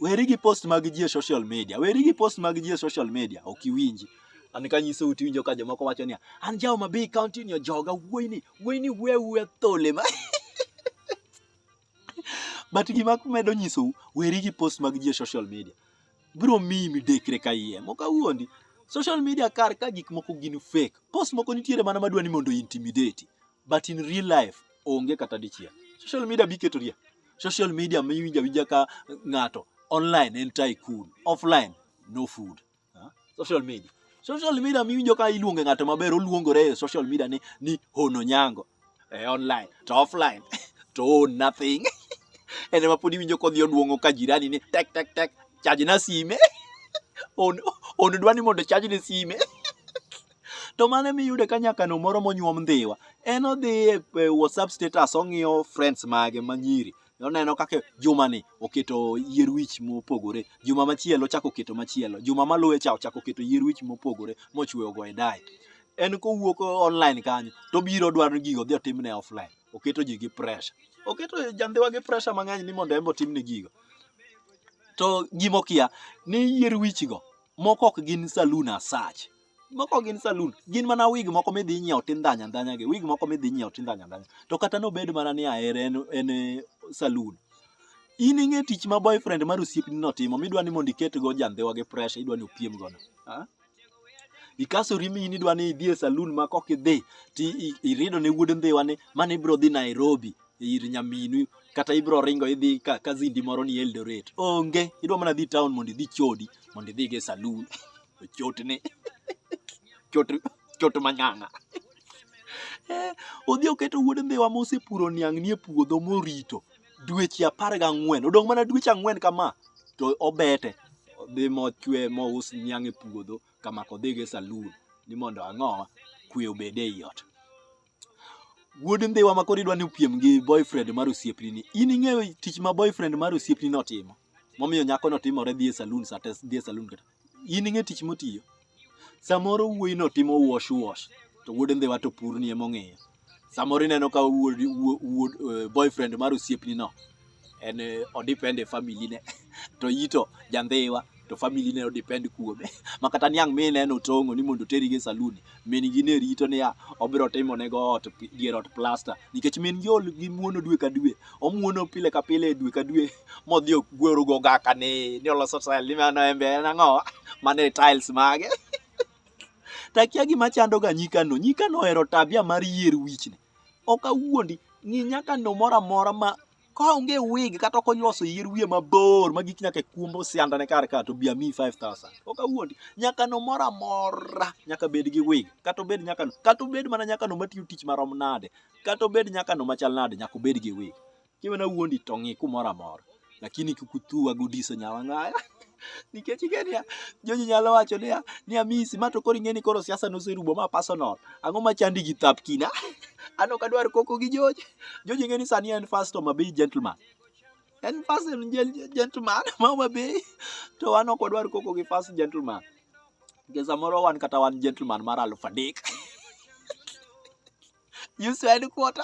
weri gi post mag ji e social media weri gi post mag ji e social media ok iwinji an kanyiso uti winjo ka jomoko wacho niya an jawo mabii county ni ojoga wuoyini wuoyini wuya wuya thole ma but gima medo nyisou weri gi post mag ji e social media biro miyi midekre ka iye mok awuondi social media kar ka gik moko gin fake post moko nitiere mana madwa ni mondo intimidate but in real life onge kata dichiel social media biketo ria social media miwinja winja ka ng'ato online en tycoon offline no food Ha? social media social media miwinjo ka iluonge ng'ato maber oluongore e social media ni, ni hono nyango e online to offline to own nothing en ema pod iwinjo kodhi oduong'o ka jirani ni tek tek tek chaj na sime on, on dwa ni mondo chaj ne sime to mane miyude ka nyakano moro monyuom ndhiwa en odhi e e whatsapp status ong'iyo friends mage manyiri noneno kaka jumani oketo yier wich mopogore juma machielo chako keto machielo juma maluwe cha ochako keto yier wich mopogore mochweyo go e dai en kowuok online kanyo to biro dwaro gigo dhi otimne offline oketo ji gi pressure oketo jandhiwa gi pressure mang'eny ni mondo en otimne gigo to gimokia ni yier wichgo moko ok gin saloon asach moko gin saloon gin mana wig moko midhi inyiewo tindhanya ndhanya gi wig moko midhi inyiewo tindhanya ndhanya to kata nobed mana ni ahere en, en eh, saloon in ing'e tich ma boyfriend mar osiepni notimo midwa ni mondo iketgo jandhiwa gi pressure idwa ni opiem gono Ah? ikasori mi in idwa ni idhi e saloon ma kok idhi ti i- irido ne wuod ndhiwa ni mane ibro dhi Nairobi ir nyaminu kata ibro ringo idhi ka, ka zindi moro ni Eldoret onge idwa mana dhi town mondo idhi chodi mondo idhi go e saloon chotni chot chot manyang'a Eh, odhi oketo wuod mbiwa mosepuro niang' nie puodho morito dweche apar gang'wen odong' mana dweche ang'wen kama to obete odhi mochwe mous niang' e puodho kama kodhi go e salun ni mondo ang'o kwe obed e iot wuod mbiwa ma koro idwa ni opiem gi boyfriend mar osiepni ni in ing'eyo tich ma boyfriend mar osiepni notimo momiyo nyakono timore dhi e salun sa te dhi e salun kata in ing'e tich motiyo samoro wuoyino timo wash wash to wuod ndhiwa to purni emong'eyo samoro ineno ka wuod, wuod, wuod uh, boyfriend mar osiepnino en eh, odepend e family ne to yito jandhiwa to family ne odepend kuome makata niang' mineno tong'o ni mondo oteri gi e saluni min gi ne rito niya obiro timo ne go ot pi- dier ot plasta nikech min gi ol gi muono dwe ka dwe omuono pile ka pile dwe ka dwe modhi ogwero go gaka ni ni oloso tile ni mano embe en ang'o mano e tiles mage takia gima chando ga nyikano nyikano ohero tabia mar yier wichni ok awuondi ng'i nyakano moro amora ma Ka onge wig kata ok onyuoso yier wiye mabor ma gik nyaka kuombo sianda ne kar ka to bi ami 5000. Ok awuondi. Nyaka no mora mora nyaka bed gi wig. Kata obed nyaka no. Kata obed mana nyaka no matiyo tich marom nade. Kata obed nyaka no machal nade nyaka obed gi wig. Kiwe na wuondi to ng'i kumora mora. Lakini kikuthuwa gudiso nyawang'aya. nikech ing'e niya joji nyalo wacho niya ni amisi ma to koro ing'e ni koro siasa noserumo ma personal ang'o ma chandi gi thap kina an ok adwar koko gi joji joji ing'e ni sani en first Homa Bay gentleman en first gentleman ma Homa Bay to an ok adwar koko gi first gentleman nikech samoro wan kata wan gentleman mar aluf adek you said quarter